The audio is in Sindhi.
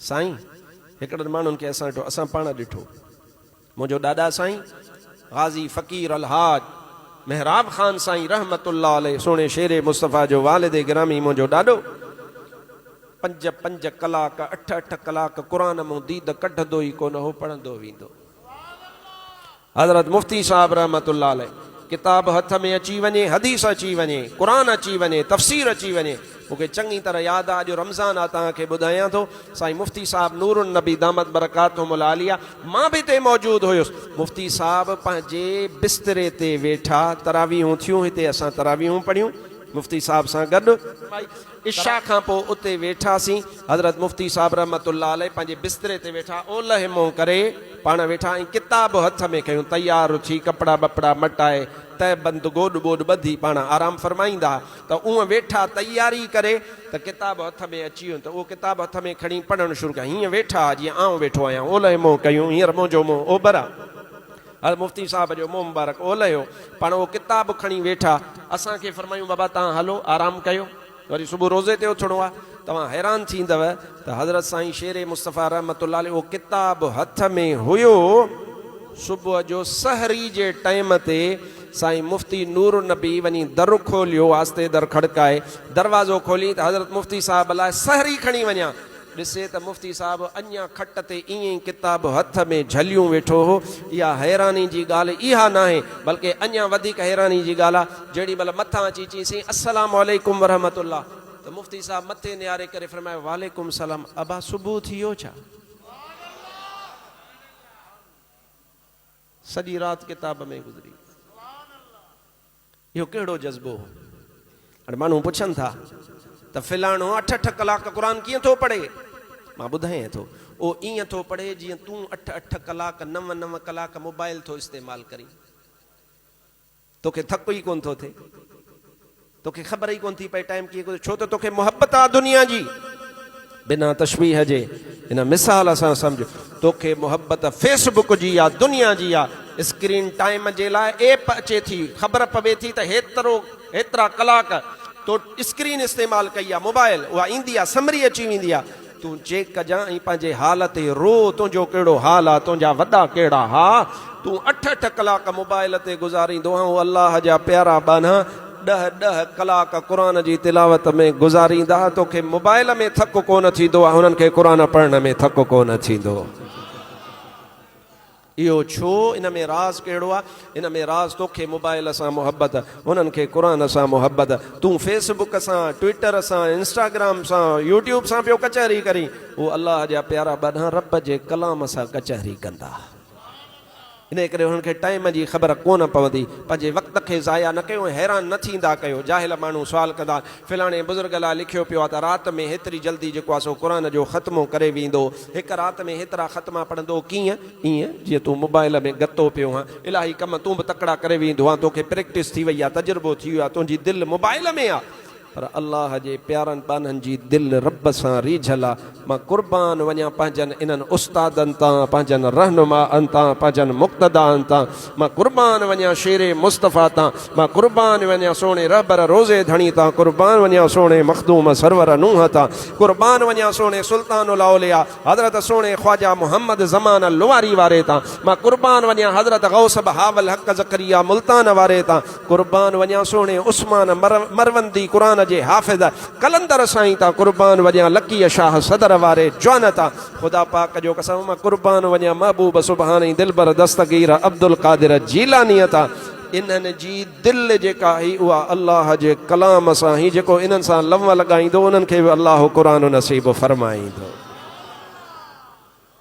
سائين! هڪڙن ماڻهن کي اسان ڏٺو، اسان پاڻ ڏٺو. منهنجو ڏاڏا سائين غازي فقير الحاج محراب خان سائين رحمة الله عليه سهڻي شير مصطفيٰ جو والد گرامي منهنجو ڏاڏو پنج پنج ڪلاڪ اٺ اٺ ڪلاڪ قرآن مون ديد ڪڍندو ئي ڪونه هو پڙهندو ويندو هو. حضرت مفتي صاحب رحمة الله عليه ڪتاب هٿ ۾ اچي وڃي، حديث اچي وڃي، قرآن اچي وڃي، تفسير اچي وڃي. مون کي چڱي طرح ياد آ، اڄ رمضان آ توهان کي ٻڌايان ٿو، سائين مفتي صاحب نور النبي دامت برڪاتهم العاليه مان به اتي موجود هيس، مفتي صاحب پنهنجي بستري تي ويٺا، تراويحون ٿيون هتي اسان تراويحون پڙهيون مفتي صاحب سان گڏ. عشاء کان پوء اتي ويٺاسين. حضرت مفتي صاحب رحمة الله عليه پنهنجي بستري تي ويٺا، اولهه منهن ڪري پاڻ ويٺا ۽ ڪتاب هٿ ۾ کنيون تيار اٿي ڪپڙا ٻپڙا مٽائي تهه بند گوڏ ٻوڏ ٻڌي پاڻ آرام فرمائيندا ته اونهه ويٺا تياري ڪري ته ڪتاب هٿ ۾ اچي ويو ته اهو ڪتاب هٿ ۾ کڻي پڙهڻ شروع ڪيا هيئن ويٺا جيئن آئون ويٺو آهيان اولهه منهن ڪيون هينئر منهنجو منهن اوڀر آ. هر مفتي صاحب جو منهن مبارڪ اولهيو پاڻ اهو ڪتاب کڻي ويٺا اسان کي فرمايون بابا توهان هلو آرام ڪيو وري صبح روزي تي اٿڻو آهي توهان حيران ٿيندؤ ته حضرت سائين شير مصطفيٰ رحمة الله عليه اهو ڪتاب هٿ ۾ هيو صبح جو سحري جي ٽئيم تي سائين مفتي نور النبي وڃي در کوليو آهستي در کڙڪائي دروازو کولين ته حضرت مفتي صاحب لاء سحري کڻي وڃان ڏسي ته مفتي صاحب اڃا کٽ تي ائين ئي ڪتاب هٿ ۾ جهليون ويٺو هو. اها حيراني جي ڳالهه اها ناهي، بلڪه اڃا وڌيڪ حيراني جي ڳالهه آ، جهڙي مهل مٿان اچي چيس سائين السلام عليڪم ورحمة الله ته مفتي صاحب مٿي نهاري ڪري فرمايو وعليڪم السلام ابا صبح ٿي ويو ڇا؟ سڄي رات ڪتاب ۾ گذري وئي. اهو ڪهڙو جذبو هو؟ هاڻي ماڻهو پڇن ٿا ته فلاڻو اٺ اٺ ڪلاڪ قرآن ڪيئن ٿو پڙهي؟ مان ٻڌايئين ٿو، اهو ائين ٿو پڙهي جيئن تون اٺ اٺ ڪلاڪ نو نو ڪلاڪ موبائل ٿو استعمال ڪرين. توکي ٿڪ ئي ڪونه ٿو ٿئي. توکي خبر ئي ڪونه ٿي پئي ٽائيم ڪيئن گذري ڇو ته توکي محبت آ دنيا جي. بنا تشبيهه جي هن مثال سان سمجهه، توکي محبت فيس بڪ جي يا دنيا جي يا اسڪرين ٽائيم جي لاء ايپ اچي ٿي، خبر پوي ٿي ته هيترو هيترا ڪلاڪ تو اسڪرين استعمال ڪئي آ، موبائل، اها ايندي آ سمري اچي ويندي آ، تون چيڪ ڪجان ۽ پنهنجي حال تي رو، تنهنجو ڪهڙو حال آ، تنهنجا وڏا ڪهڙا ها، تون اٺ اٺ ڪلاڪ موبائل تي گذاريندو آهين، هو الله جا پيارا ٻانها. ڏهه ڏهه ڪلاڪ قرآن جي تلاوت ۾ گذاريندا توکي موبائل ۾ ٿڪ ڪونه ٿيندو هنن کي قرآن پڙهڻ ۾ ٿڪ ڪونه ٿيندو اهو ڇو ان ۾ راز ڪهڙو آ ان ۾ راز توکي موبائل سان محبت هنن کي قرآن سان محبت تون فيس بڪ سان ٽوئيٽر سان انسٽاگرام سان يوٽيوب سان پيو ڪچهري ڪرين هو الله جا پيارا ٻڏا رب جي ڪلام سان ڪچهري ڪندا انهيء ڪري انهن کي ٽائيم جي خبر ڪونه پوندي. پنهنجي وقت کي ضايع نه ڪيو ۽ حيران نه ٿيندا ڪيو. جاهل ماڻهو سوال ڪندا، فلاڻي بزرگ لاء لکيو پيو آهي ته رات ۾ هيتري جلدي جيڪو آهي سو قرآن جو ختمو ڪري ويندو. هڪ رات ۾ هيترا ختما پڙهندو ڪيئن؟ ائين جيئن تون موبائيل ۾ گتو پيو آهين. الاهي ڪم تون به تڪڙا ڪري ويندو آهين. توکي پريڪٽس ٿي وئي آهي، تجربو ٿي ويو آهي. تنهنجي دل موبائيل ۾ آهي. پر الله جي پيارن ٻانهن جي دل رب سان ريجهل آ. مان قربان وڃان پنهنجن انهن استادن تان، پنهنجن رهنمائن تان، پنهنجن مقتدائن تان. مان قربان وڃان شير مصطفيٰ تان. مان قربان وڃان سهڻي رهبر روضي ڌڻي تان. قربان وڃان سهڻي مخدوم سرور نوح تان. قربان وڃان سهڻي سلطان الاولياء. حضرت سهڻي خواجه محمد زمان لواري واري تان مان قربان وڃان حضرت غوث بهاوالحق زڪريا ملتان واري تان قربان وڃان سهڻي عثمان مروندي قرآن جي حافظ قلندر سائين تان قربان وڃان لڪيء شاهه صدر واري جوان تان خدا پاڪ جو قسم مان قربان وڃان محبوب سبحاني دلبر دستگير عبدالقادر جيلانيء تان انهن جي دل جيڪا آهي اها الله جي ڪلام سان آهي جيڪو انهن سان لنء لڳائيندو انهن کي به الله قرآن نصيب فرمائيندو.